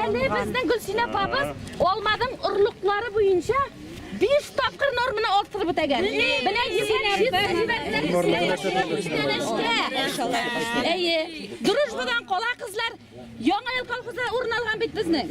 Әле безнең Гөлсинә апабыз алмадың орлыклары буенча 5 тапкыр норманы арттырып үтәгән. Менә Әйе. Дружбадан кала кызлар Яңа ел колхозы урын алган бит безнең.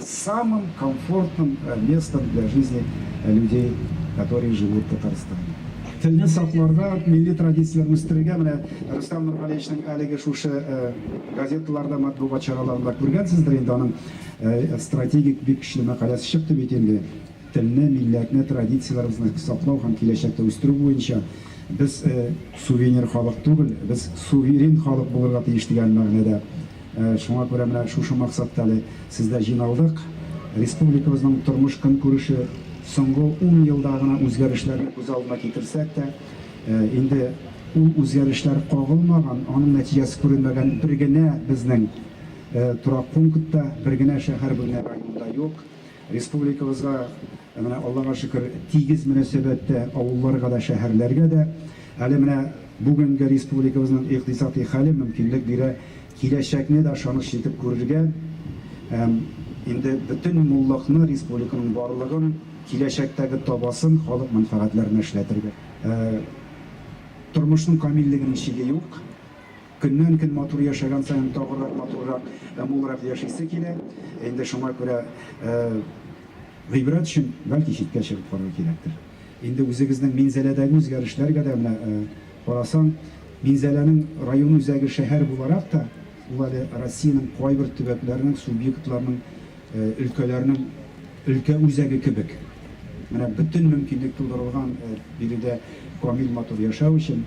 Самым комфортным местом для жизни людей которые живут в Татарстане. Телне сакларга, милли традицияләрне үстерергә менә Рөстәм Нургалиевичның әлеге шушы газеталарда, матбугат чараларында күргәнсездер инде аның стратегик бик көчле мәкаләсе чыкты бит инде. Телне, милләтне, традицияләребезне саклау һәм киләчәктә үстерү буенча без сувенир халык түгел, без суверен халык булырга тиеш дигән мәгънәдә Шуңа күрә менә шушы максатта әле сездә җыйналдык. Республикабызның тормыш-көнкүреше соңгы ун елда гына үзгәрешләрне күз алдына китерсәк тә, инде ул үзгәрешләр кагылмаган, аның нәтиҗәсе күренмәгән бер генә безнең торак пункт та, бер генә шәһәр, бер генә район да юк. Республикабызга, менә Аллага шөкер, тигез мөнәсәбәттә авылларга да, шәһәрләргә дә. Әле менә бүгенге республикабызның икътисадый хәле мөмкинлек бирә киләчәкне дә ышаныч итеп күрергә һәм инде бөтен муллыкны, республиканың барлыгын, киләчәктәге табасын халык мәнфәгатьләренә эшләтергә. Тормышның камиллегенең чиге юк. Көннән-көн матур яшәгән саен тагырак матуррак һәм мулрак яшисе килә. Инде шуңа күрә гыйбрәт өчен бәлки читкә чыгып карарга кирәктер. Инде үзегезнең Минзәләдәге үзгәрешләргә дә менә карасаң, Минзәләнең район үзәге шәһәр буларак та, ул әле Россиянең кайбер төбәкләренең, субъектларның, өлкәләрнең өлкә үзәге кебек. Менә бөтен мөмкинлек тудырылган биредә камил матур яшәү өчен.